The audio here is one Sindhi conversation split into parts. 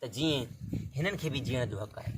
ته جيئن هنن کي به جيئڻ جو حق آهي.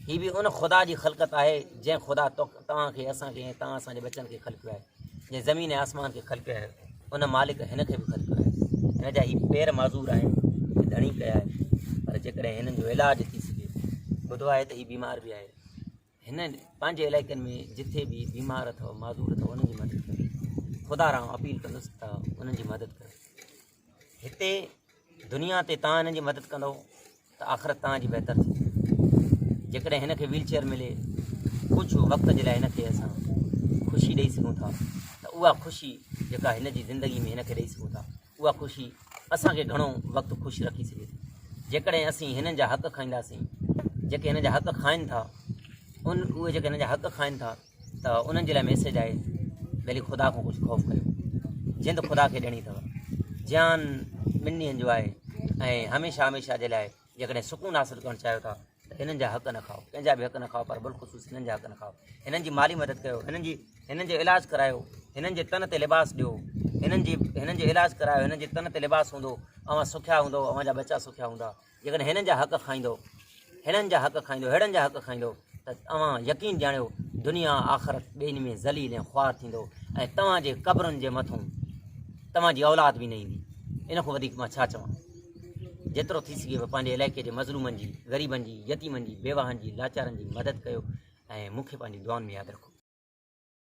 هي به ان خدا جي خلقت آهي جنهن خدا توک توهان کي اسان کي ۽ توهان اسان جي ٻچن کي خلقيو آهي. جنهن زمين ۽ آسمان کي خلقيو آهي ان مالڪ هن کي به خلقيو آهي. هن جا هي پير معذور آهن جي ڌڻي ڪيا آهن پر جيڪڏهن هنن جو علاج ٿي سگهي. ٻڌو آهي ته هي بيمار به آهي. هن پنهنجي علائقن ۾ جتي به بيمار اٿو معذور اٿو انهن جي مدد ڪري خدا رام اپيل ڪندس ته انهن جي مدد ڪري هتي دنيا تي تان انهن جي مدد ڪندو ته آخرت تان جي بهتر ٿي جيڪڏهن هن کي ويل چيئر ملي ڪجهه وقت جي لاء هن کي اسان خوشي ڏيئي سگهون ٿا ته اها خوشي جيڪا هن جي زندگي ۾ هن کي ڏيئي سگهون ٿا اها خوشي اسان کي گهڻو وقت خوش رکي سگهي ٿي جيڪڏهن اسين هنن جا حق کائينداسين جيڪي هن جا حق کائن ٿا ان اهي جيڪي هن جا حق کائن ٿا ته انهن جي لاء ميسج آهي ڀلي خدا کان ڪجهه خوف ڪيو جند خدا کي ڏيڻي اٿو جيان ٻن ڏينهن جو آهي ۽ هميشه هميشه جي لاء جيڪڏهن سڪون حاصل ڪرڻ چاهيو ٿا ته هنن جا حق نه کائو ڪنهن جا به حق نه کائو پر بالخصوص هنن جا حق نه کائو هنن جي مالي مدد ڪيو هنن جي هنن جو علاج ڪرايو هنن جي تن تي لباس ڏيو هنن جي هنن جو علاج ڪرايو هنن جي تن تي لباس هوندو اوهان سکيا هوندو اوهان جا ٻچا سکيا هوندا جيڪڏهن هنن جا حق کائيندو هنن جا حق کائيندو هيڙن جا حق کائيندو ته اوهان يقين ڄاڻيو دنيا آخرت ٻينهي ۾ ذليل ۽ خوار ٿيندو ۽ توهان جي قبرن جي مٿون توهان جي اولاد به نه ايندي ان کان وڌيڪ مان ڇا چوان جيترو ٿي سگهي به پنهنجي علائقي جي مظلومن جي غريبن جي يتيمن جي بيواهن جي لاچارن جي مدد ڪيو ۽ مون کي پنهنجي دعائن ۾ ياد رکو